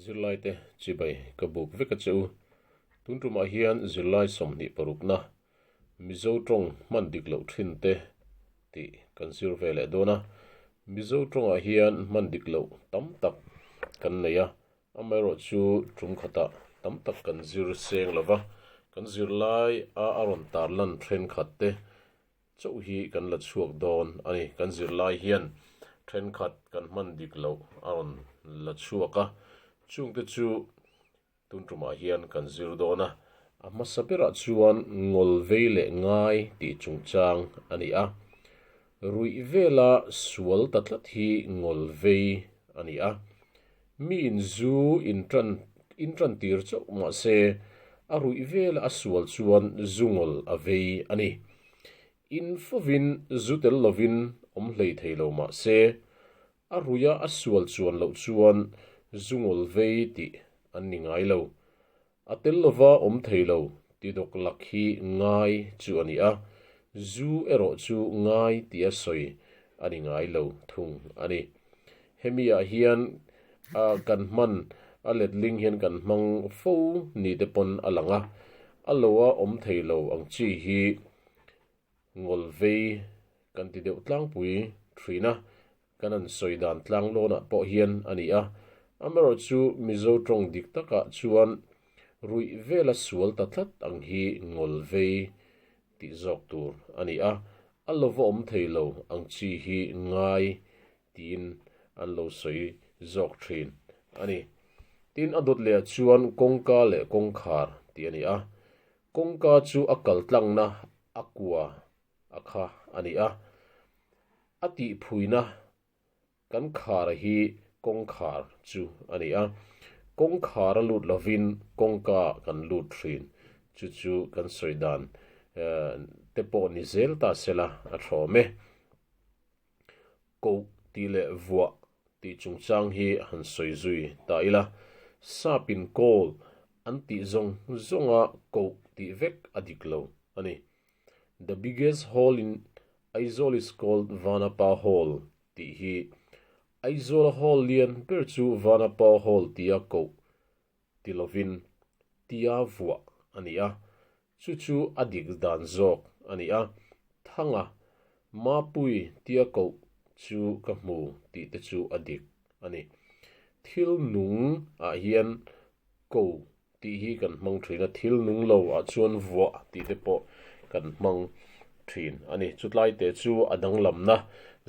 Zirlai te chibai ka buk vek a che u. Tun tumah hian zirlai sawmhnih parukna Mizo tawng hman dik loh thin te tih kan zir ve leh dawn a. Mizo tawngah hian hman dik loh tam tak kan nei a, amaherawh chu tum khatah tam tak kan zir seng lo va, kan zirlai a a rawn tarlan thenkhat te Chauh hi kan la chhuak dawn a ni. Kan zirlai hian thenkhat kan hman dik loh a rawn la chhuak a, chungte chu tunrumah hian kan zir dawn a. A hmasa berah chuan ngawl vei leh ngai tih chungchang a ni a. Ruih vela sual ta tlat hi ngawl vei a ni a. Mi in zu in tan in tan tir chauh mah se a ruih vel a sual chuan zu ngol a vei a ni. In fovin zu tel lovin awm hlei thei lo mah se a ruih a a sual chuan loh chuan zu ngol vei tih an ni ngai lo. A tel lova awm thei lo ti dawk lak hi ngai chu a ni a, zu erawh chu ngai tia sawi a ni ngai lo thung a ni. Hemi ah hian a kan hman a letling hian kan hmang fo ni te pawn a lang a, a lo a awm thei lo ang chi hi ngawlvei kan ti deuh tlangpui thin a, Kan han sawi dan tlang lawnah pawh hian a ni a, amarawh chu Mizo tawng dik takah chuan ruih vela sual ta tlat ang hi ngawl vei tih zawk tur a ni a, a lawvawm thei lo ang chi hi ngai tiin an lo sawi zawk thin a ni. Tin, a dawt lehah chuan kawngka leh kawngkhar tih a ni a, kawngka chu a kaltlangna a kua A kha a ni a, a tihphuina kan khar hi kawng khar chu a ni a, kawng khar a lut lovin kawngka kan lut thin, chu chu kan sawi dan te pawh ni zel ta sela a thawm e. Koh tih leh vuah tih chungchang hi han sawi zui ta ila, sapin kawl an tih zawng zawnga koh tih vek a dik lo a ni. The biggest hole in Aizawl is called Vanapa Hole tih hi Aizawl hall lian ber chu Vanapa Hall tia koh ti lovin tia vuah a ni a, chu chu a dik dan zawk a ni a. Thanga Mapui tia koh chu ka hmu tih te chu a dik a ni. Thil nung ah hian koh tih hi kan hmang thin a, thil nung lo ah chuan vuah tih te pawh kan hmang thin a ni. Chutlai te chu a danglamna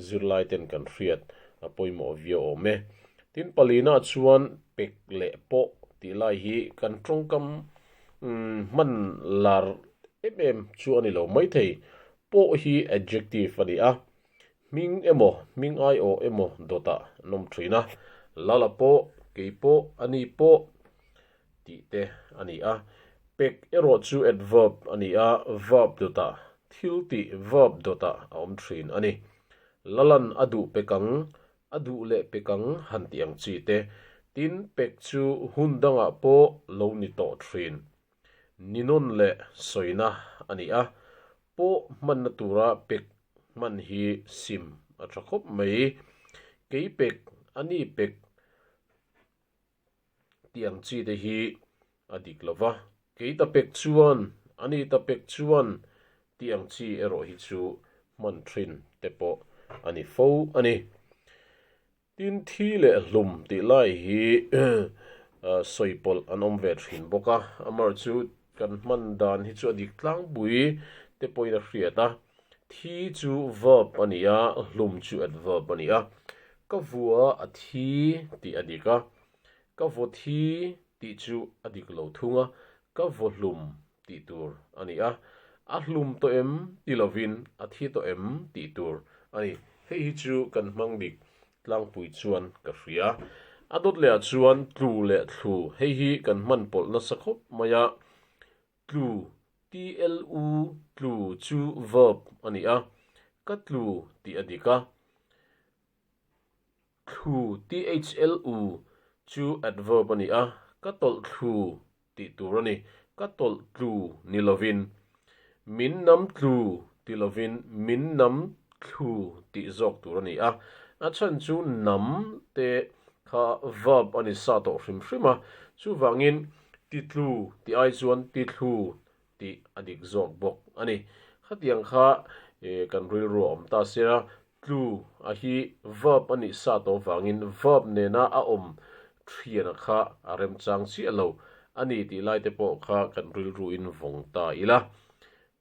zirlaiten kan hriat a pawimawh viau awm e. Tin palinah chuan pek leh pawh tih lai hi kan tawngkam hman lar em em chu a ni lo. Maithei pawh hi adjective a ni a, Hming emaw hming aiawh emaw dawtah an awm thin a, Lala pawh, kei pawh, ani pawh tih te a ni a. Pek erawh chu adverb a ni a, verb dawtah, thiltih verb dawtah a awm thin a ni. Lalan a duh pek ang, a duh leh pek ang han tih ang chi te. Tin, pek chu hun dangah pawh lo ni tawh thin. Ninawn leh sawina a ni a, pawh hmanna tura pek hman hi sim a tha khawp mai. Kei pek, ani pek tih ang chi te hi a dik lo va, kei ta pek chuan, ani ta pek chuan tih ang chi erawh hi chu hman thin te pawh a ni fo a ni. Tin, thi leh hlum tih lai hi sawi pawlh an awm ve thin bawk a, amarawh chu kan hman dan hi chu a dik tlangpui te pawhin a hriat a, thi chu verb a ni a, hlum chu adverb a ni a. Ka vua a thi tih a dik a, ka vaw thi Tih chu a dik lo thung a, ka vaw hlum tih tur a ni a, a hlum tawh em ti lovin a thi tawh em tih tur a ni. Hei hi chu kan hmang dik tlangpui chuan ka hria. A dawt leh ah chuan tlu leh thlu hei hi kan hman pawlh nasa khawp mai a. Tlu, tlu, tlu chu verb a ni a, ka tlu tih a dik a. Thlu, THLU, chu adverb a ni a, ka tawlh thlu tih tur a ni. Ka tawlh tlu ni lovin, min nam tlu ti lovin min nam thlu tih zawk tur a ni a. A chhan chu nam te kha verb a ni sa tawh hrim hrim a, chuvangin ti tlu ti ai chuan ti thlu tih a dik zawk bawk a ni. Khatiang kha kan rilru a awm ta sia, tlu a hi verb a nih sa tawh vangin verb nena a awm thiana kha a remchang chiah lo a ni tih lai te pawh kha kan rilruin vawng ta ila.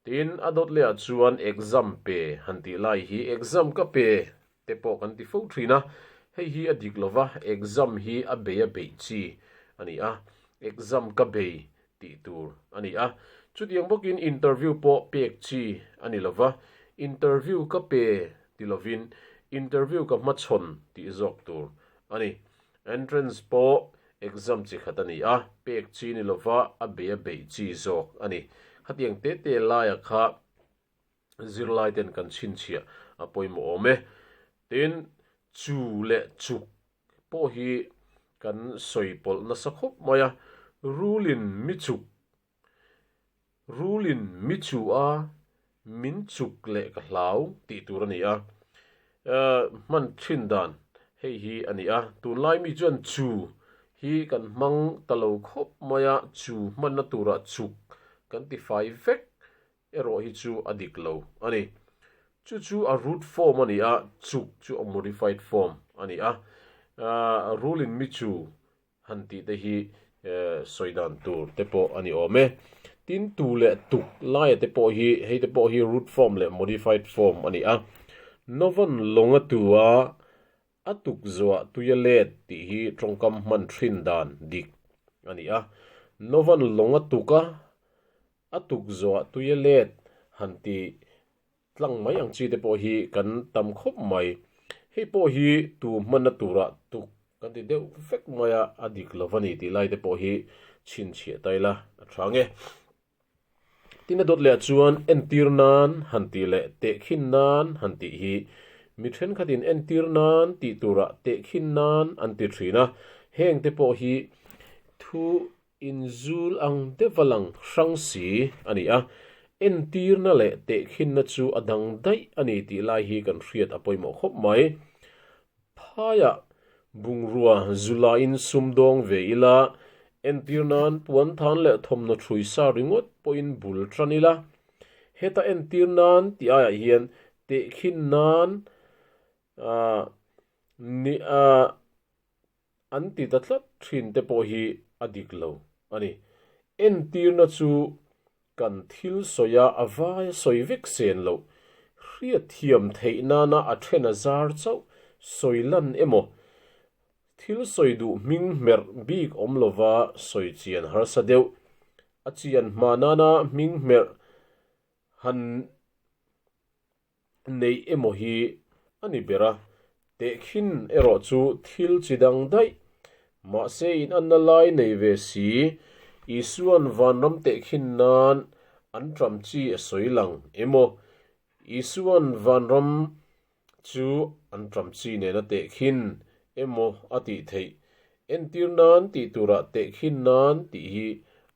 Tin, a dawt leh ah chuan exam pe han tih lai hi exam ka pe Te pawh kan ti fo thin a, hei hi a dik lova exam hi a bei a beih chi a ni a, exam ka bei tih tur a ni a. Chutiang bawkin interview pawh pek chi a ni lova, interview ka pe ti lovin interview ka hmachhawn tih zawk tur a ni. Entrance pawh exam chi khat a ni a, pek chi ni lova a bei a beih chi zawk a ni. Khatiang tete laia kha. zirlaiten kan chhinchhia a pawimawh awm e. Tin, chu leh chuk pawh hi kan sawi pawlh nasa khawp mai a, Rulin mi chuk, rulin mi chu a, min chuk leh ka hlau tih tur a ni a. Hman thin dan hei hi a ni a, tunlai mi chuan chu hi kan hmang ta lo khawp mai a, chu hmanna turah chuk kan ti fai vek. Erawh hi chu a dik lo a ni. Chu chu a root form a ni a, chuk chu a modified form a ni a. Rule in mi chu han tih te hi sawi dan tur te pawh a ni awm e. Tin, tu leh tuk laia te pawh hi, hei te pawh hi root form leh modified form a ni a. Novan lawnga tua a tuk zuah tuia let tih hi tawngkam hman ṭhin dan dik a ni a. Novan lawnga tuka A tukzuah tui a let han ti tlang mai ang chi te pawh hi kan tam khawp mai. Hei pawh hi tu hmanna turah tuk kan ti deuh vek mai a, a dik lo va ni tih lai te pawh hi chhinchhiah ta ila a tha nge. Tin a dawt leh ah chuan entir nan han tih leh tehkhin nan han tih hi mi thenkhatin entir nan tih turah tehkhin nan an ti thin a, heng te pawh hi thu Inzul ang deuh a lang hrang si a ni a, entirna leh tehkhinna chu a dang daih a ni tih lai hi kan hriat a pawimawh khawp mai. Phaia bungrua zulaiin sum dawng ve ila, entir nan puan than leh thawmhnaw thrui sa ringawt pawhin bul tan ila, heta entir nan tih aiah hian tehkhin nan nih an ti ta tlat thin te pawh hi a dik lo a ni. Entirna chu kan thil sawia a vai a sawi vek sen loh, hriatthiam theih nana a then a zar chauh, sawi lan emaw, thil sawi duh hming hmerh bik awm lova sawi chian harsa deuh, a chian hma nana hming hmerh han neih emaw hi a ni ber a, teh khin erawh chu thil chi dang daih. Mahse inanna lai nei ve si, Isua'n vanram teh khin nan an ṭam chi a sawi lang em aw? Isua'n vanram chu an ṭam chi nen a teh khin emaw a tih theih? Entir nan tih turah teh khin nan tih hi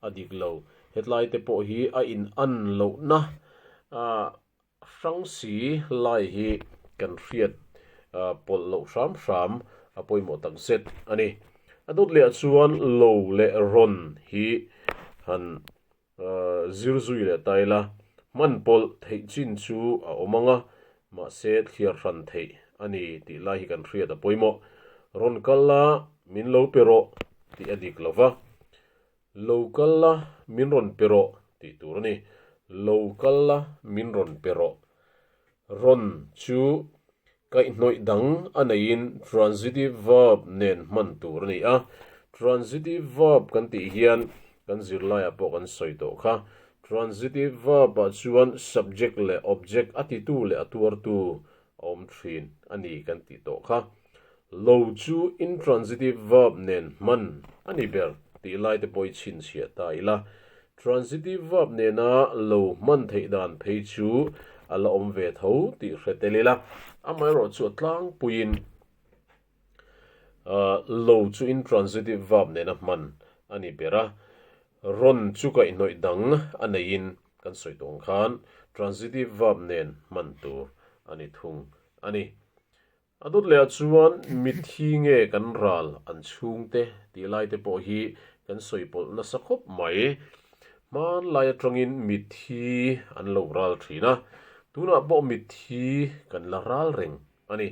a dik lo. Hetlaite pawh hi a inan lohna Hrangsi lai hi kan hriat pawlh loh hram hram a pawimawh tak zet a ni. A dawt leh ah chuan lo leh rawn hi han zir zui leh ta ila, hman pawlh theih chin chu a awm ang a, mahse thliar hran theih a ni tih lai hi kan hriat a pawimawh. Rawn kal a, min lo pe rawh tih a dik lo va. Lo kal la min rawn pe rawh tih tur a ni. Lo kal la min rawn pe rawh. Rawn chu kaihhnawih dang a neiin transitive verb nen hman tur a ni a. Transitive verb kan tih hian kan zirlaiah pawh kan sawi tawh kha. Transitive verb ah chuan subject leh object a titu leh a tuartu a awm thin a ni kan tih tawh kha. Lo chu intransitive verb nen hman a ni ber tih laite pawh i chhinchhiah ta ila, transitive verb nena lo hman theih dan phei chu a la awm ve tho tih hre tel ila, amaherawh chu a tlangpuiin lo chu intransitive verb nena hman a ni ber a, rawn chu kaihnawih dang a neiin kan sawi tawng khan transitive verb nen hman tur a ni thung a ni. A dawt leh ah chuan mit hi nge kan ral an chhung te tih lai te pawh hi kan sawi pawlh nasa khawp mai. Hmanlai atangin mit hi an lo ral thin a, tunah pawh mit hi kan la ral reng a ni.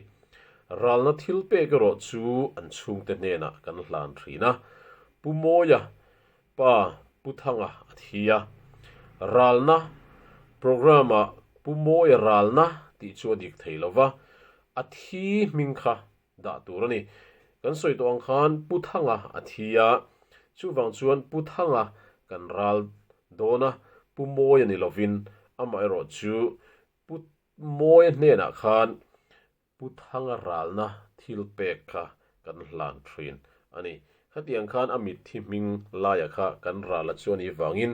Ralna thil pek erawh chu an chhungte hnenah kan hlan thin a. Pu Mawia, Pa Pu Thanga a thi a, ralna program ah Pu Mawia ralna tih chu a dik thei lo va, a thi hming kha dah tur a ni. Kan sawi tawh ang khan Pu Thanga a thi a, chuvang chuan Pu Thanga kan ral dawn a, Pu Mawia ni lovin amaherawhchu Pu Mawia hnenah khan Pu Thanga ralna thil pek kha kan hlan thin a ni. Khatiang khan a mitthi hming laia kha kan ral a chuan i vangin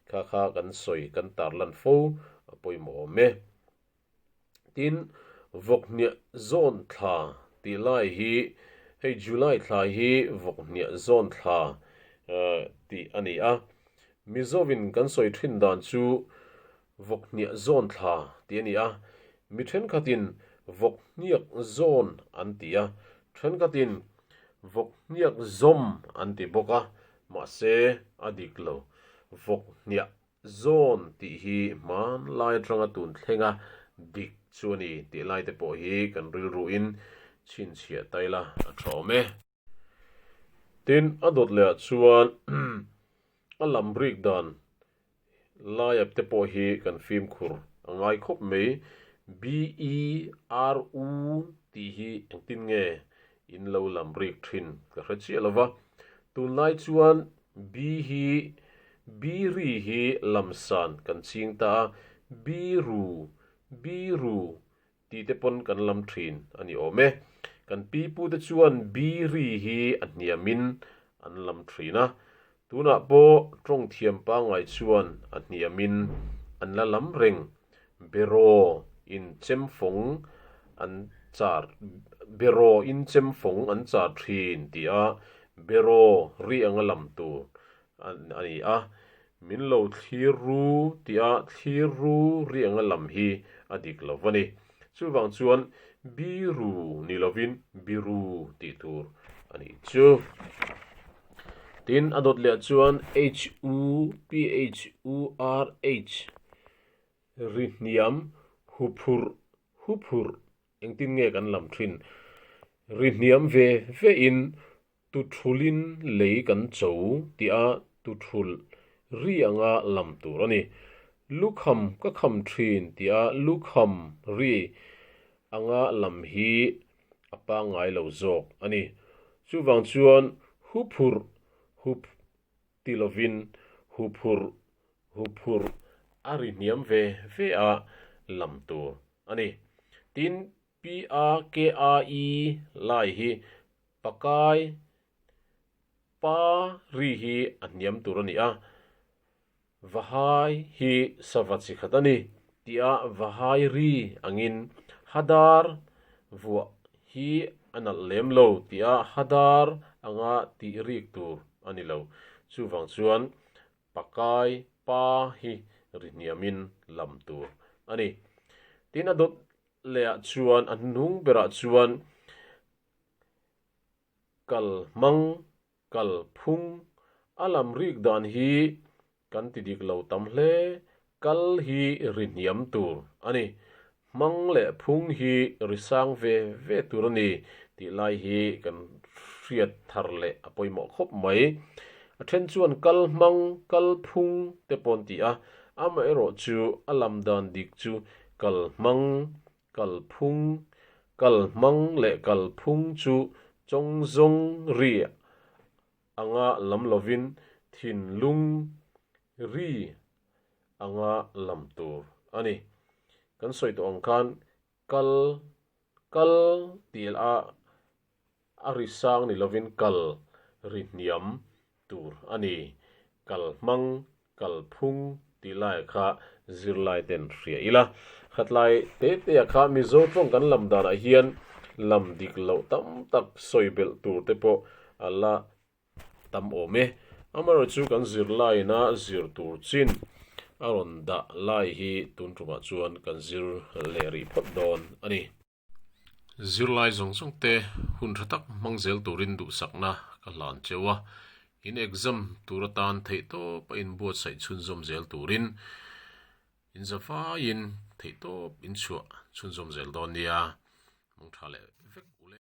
kha kha kan sawi kan tar lan fo a pawimawh awm e. Tin, vawkhniah zawn thla tih lai hi hei July thla hi vawkhniah zawn thla tih a ni a. Mizovin kan sawi thin dan chu Vawk hniah zawn thla tih a ni a, mi thenkhatin vawk hniak zawn an ti a, thenkhatin vawk hniak zawm an ti bawk a, mahse a dik lo. Vawk hniah zawn tih hi hmanlai atanga tun thlenga dik chu a ni tih lai te pawh hi kan rilruin chhinchhiah ta ila a thawm e. Tin, a dawt lehah chuan a lam rik dan laia te pawh hi kan fimkhur a ngai khawp mai. BERU tih hi engtin nge? In lo lam rik thin ka hre chiah lo va. Tunlai chuan bi hi biri hi lamsan kan ching ta a, biru, biru, Tih te pawn kan lam thin a ni awm e. Kan pi pu te chuan Biri hi a hniam in an lam thin a. Tunah pawh Tawngthiam pangai chuan a hniam in an la lam reng. Beraw in chemfawng an char Beraw in chemfawng an char thin tih a Beraw rianga lam tur a ni a, min lo thlir ru tia thlir ru rianga lam hi a dik lo va ni. Chuvang chuan bi ru ni lovin bi ru tih tur a ni chu. Tin, a dawt leh chuan h u p h u r h, ri hniam, hu phurh, hu phurh, engtin nge kan lam thin? Ri hniam ve vein Tuthulin lei kan cho tih a tuthul ri anga lam tur a ni. Lukham ka kham thin tih a lukham ri anga lam hi a pangngai lo zawk a ni. Chuvang chuan hu phur hup ti lovin hu phur hu phur a ri hniam ve ve a lam tur a ni. Tin, Pia kea i lai hi pakai pa ri hi a hniam tur a ni a, va hai hi sava chi khat a ni tia va hai ri angin Hadar vuah hi a nalh lem lo tia Hadar anga tih rik tur a ni lo. Chuvang chuan pakai pa hi ri hniamin lam tur a ni. Tin a dawt lehah chuan a hnung berah chuan kal hmang, kal phung a lam rik dan hi kan ti dik lo tam hle. Kal hi ri hniam tur a ni, hmang leh phung hi ri sang ve ve tur a ni tih lai hi kan hriat thar leh a pawimawh khawp mai. A then chuan kal hmang, kal phung te pawh an ti a, amaherawhchu a lam dan dik chu Kal hmang, kal phung, kal hmang leh kal phung chu chawng zawng ri anga lam lovin thinlung ri anga lam tur a ni. Kan sawi tawh ang khan kal, kal tih a. A ri sang ni lovin kal ri hniam tur a ni. Kal hmang, kal phung tih laia kha zirlaiten hria ila. Khatlai te teah kha Mizo tawng kan lam danah hian lam dik loh tam tak sawi belh tur te pawh a la tam awm e. Amaherawhchu chu kan zirlaina zir tur chin a rawn dah lai hi tun tumah chuan kan zir leh rih phawt dawn a ni. Zirlai zawng zawng te hun tha tak hmang zel turin duhsakna ka hlan cheu a, in exam tur atan theihtawp a inbuatsaih chhunzawm zel turin in za faiin theihtawp in chhuah chhunzawm zel dawn nia. Hmangtha leh vek uleh.